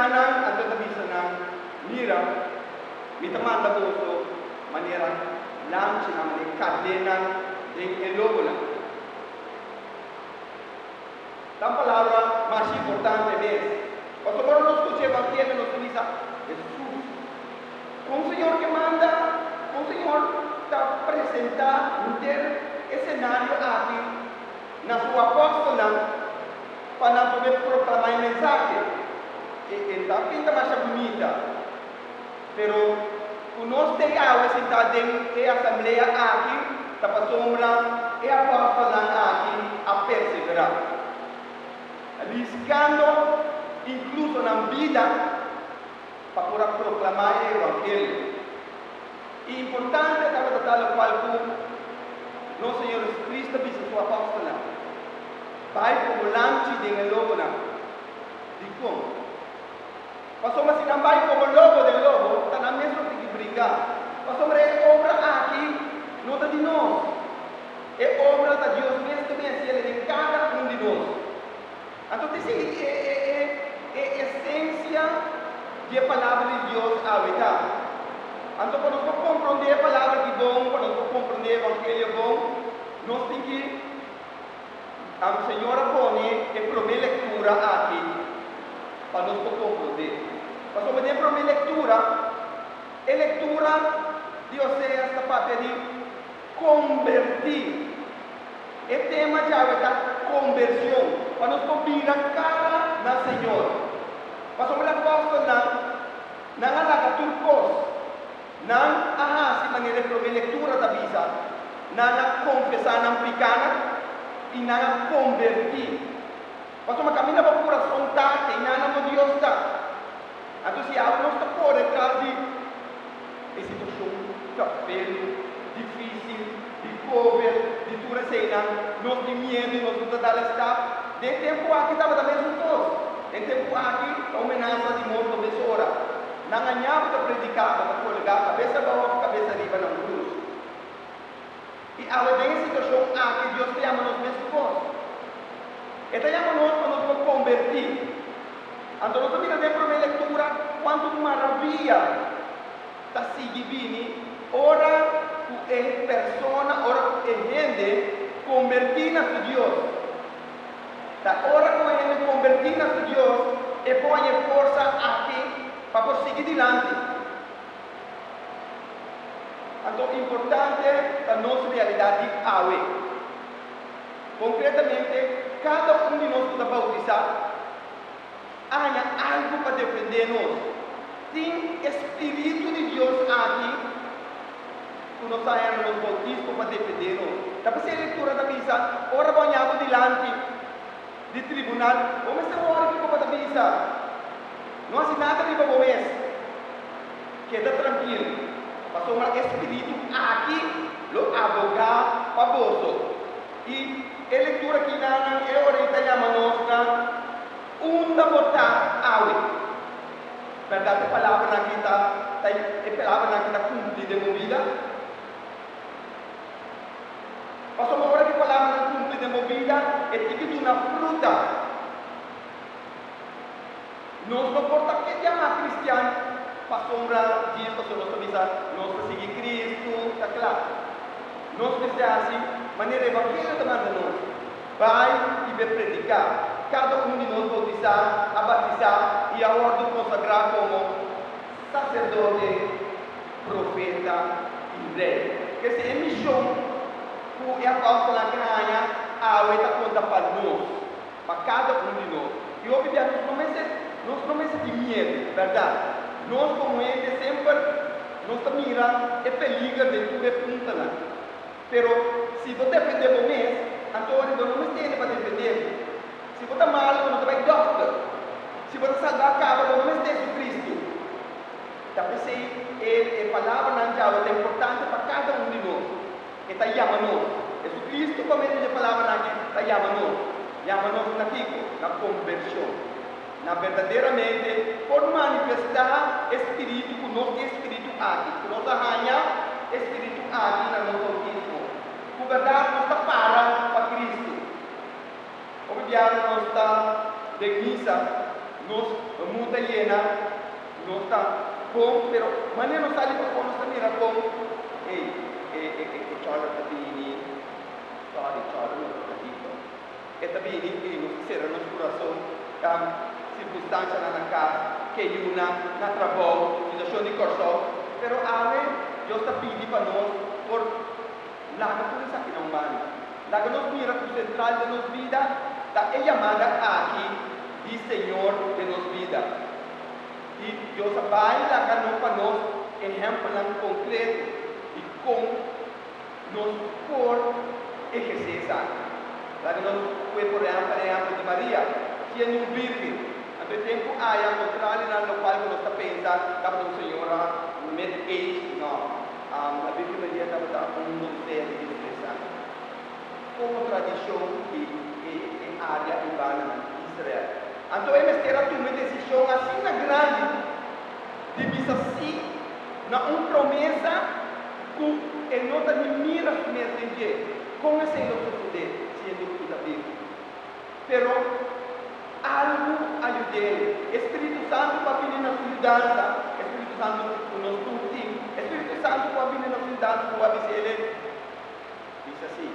Nan a tabata bisa nan, Mira, mi ta manda boso manera lanchi, na mane kadenan den e lobonan. Tan palabra mas importante mes. Pasobra ora nos skucha e evangelio nos ta bisa, Hesus, kon Señor ke manda? Kon Señor ta presenta hunter e senario aki? na su apòstelnan pa nan pone proklamá e mensahe. E e ta pinta masha bunita. Pero ku nos ta e awe sintá den e asamblea aki ta pasobra e apòstelnan aki a perseverá. Riskando inkluso nan bida pa por a proklamá e evangelio. E importante tabata ta lokual ku nos Señor Jesucristo a bisa su apòstelnan, Bai komo lamchi den e lobonan. Dikon? Pasobra si nan bai komo lobo den lobo, ta nan mes lo tin di bringa, pasobra e obra aki no ta di nos. E obra ta Dios mes ku a bin hasiel den kada un di nos. Anto tin si e esensia di e palabra di Dios awe ta. Anto pa nos por compronde e palabra di bon, pa nos por compronde e evangelio bon, nos tin ki Señor a pone e prome lectura aki pa nos por compronde. Pasobra den e prome lectura, e lectura di Oseas ta papia di. Kombertí. E tema djawe ta kombershon, pa nos por bira kara na Señor. Pasobra e apòstelnan, nan a laga tur kos, nan a hasi manera e promé lektura ta bisa, nan a konfesá nan pikanan i nan a kombertí. Pasobra kaminda bo kurason Tate i nana bo Dios ta. Anto si awe nos ta kore tras di. E situacion ta bel dificil, di cover, di tur eseinan, nos tin miedo y nos no ta dal stap. Den e tempo aki tabata mesun cos. Den tempo aki ta un menasa di morto mes ora. Nan a ñapo ta predica, bo ta colga cabesa bao of cabesa riba na un cruz. I awe den e situashon aki Dios ta yama nos mes ku bos. E ta yama nos pa nos por kombertí. Anto nos a mira den promé lektura kuantu maravia ta sigui bini ora ku e persona, ora ku e hende kombertí na su Dios. Ta ora ku e hende kombertí na su Dios e por haña forsa aki pa por sigui dilanti. Anto importante ta nos realidat di awe. Konkretamente, kada un di nos ku ta boutisá a haña algu pa defendé nos. Tin e Spiritu di Dios aki ku nos a haña na nos boutismo pa defendé nos. Ta p'esei e Lektura ta bisa, Ora bo haña abo dilanti, di tribunal. Bo mester wòrdu kiko pa ta bisa. No hasi nada riba bo mes. Keda trankil, pasobra e Spiritu aki lo abogá pa boso. I e lektura aki na nan e ora i ta yama nos na unda bo ta awe. Bèrdat e palabranan aki ta ta e palabranan aki ta kumplí den bo bida? Pasobra ora ki palabranan kumpli den bo bida, e tin di duna fruta. Nos no por ta ke yamá kristian pasobra djis, pasobra nos ta bisa nos ta sigui Kristu. Ta kla, nos mester hasi manera Evangelio ta manda nos, Bai i bai prediká. Kada un di nos boutisá, a batisá i a wòrdu konsagrá komo. saserdote, profeta i rei. P'esei e mishon ku e apòstelnan ke haña awe ta konta pa nos, pa kada un di nos. I hopi bia nos no mester, nos no mester tin miedu, bèrdat? Nos komo hende semper nos ta mira e peliger den tur e puntanan. Pero si bo depende bo mes, anto ora bo no mes tende pa depende bo. Si bo ta mal, bo no ta bai dòkter. Si bo ta salbá kaba bo no mes ta Hesu Kristu. Ta p'esei e e palabranan Yahwe ta importante pa kada un di nos. E ta yama nos. Hesu Kristu, pa medio di e palabranan aki, ta yama nos. Yama nos na kiko? Na kombershon. na berdaderamente por manifestá e spiritu ku nos tin spiritu aki, ku nos a haña e spiritu aki na nos bautismo. Ku bèrdat nos ta para pa Kristu. Hopi biaha nos ta den misa, nos munt ta yena, nos ta bon, pero manera nos sali pafó nos ta mira kon, Ey, e chòlder ta bini, sòri, chòlder no ta kadiko. E ta bini i nos ta sera nos kurason pa sirkunstansianan na kas, ke yuna, na trabou, situashon di Kòrsou. Pero ale Dios ta pidi pa nos por laga tur esaki na un banda. Laga nos mira ku sentral den nos bida ta e yamada aki di Señor den nos bida. I Dios a bai laga no pa nos ehèmpelnan konkreto di kon Nos por ehersé esaki. Laga nos pue por reha pa reha di Maria, siendo un virgen. Anto e tempu aya contralionan lokual ku nos ta pensa tabata un señora mid age? No. La Virgen Maria tabata un donser di dies tres aña. Komo tradishon di e e área urbana di Israel. Anto e mester a tuma e desishon asina grandi. di bisa sí na un promesa ku e no ta ni mira mes den dje? Kon esei lo susedé si e minti ta biba? Pero algu a yud'el. E Spiritu Santu ku a bini na su yudansa, e Spiritu Santu ku nos tur tin, e Spiritu Santu ku a bini na su yudansa ku a bis'e, Bisa sí.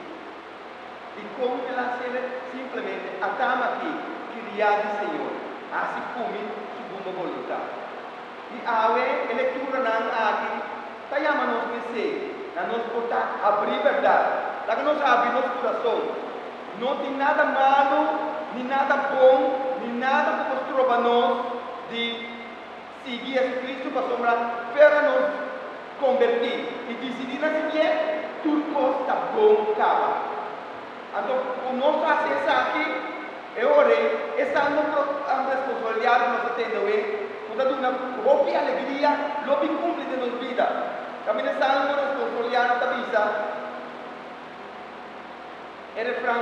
I kon el a sele? Simplemente a tama te kiriá di Señor, hasi kumi Su bumba boluntat. I awe e lekturanan aki ta yama nos mesé na nos por ta habrí bèrdat. Laga nos habri nos kurason. No tin nada malu ni nada bon ni nada ku por stroba nos di. Sigui Jesucristo pasobra fe ta nos converti y dicidi na si bien tur cos ta bon caba. Anto cu nos haci esaki e ora ei esa no propian responsabilidad cu nos ta tende awe cu ta duna hopi alegria lo bin cumpli den nos bida. Tambe den Salmo responsabilidad ta bisa e refran.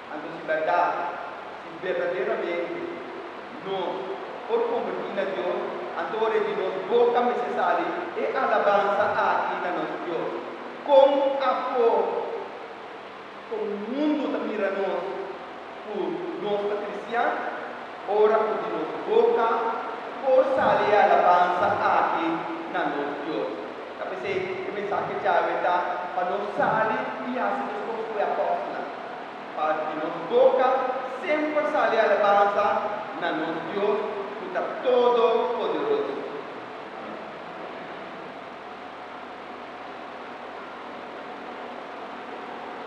Anto si bèrdat, si berdaderamente nos por konvertí na Dios, anto ora ei di nos boka mester sali e alabansa aki na nos Dios, Kon afó kon mundu ta mira nos ku nos ta kristian ora ku di nos boka por sali e alabansa aki na nos Dios? Ta p'esei e mensahe djawe ta pa nos sali i hasi nos kos ku e apòstelnan. pa di nos boka semper sali alabansa na nos Dios cu ta todo poderoso. Amen.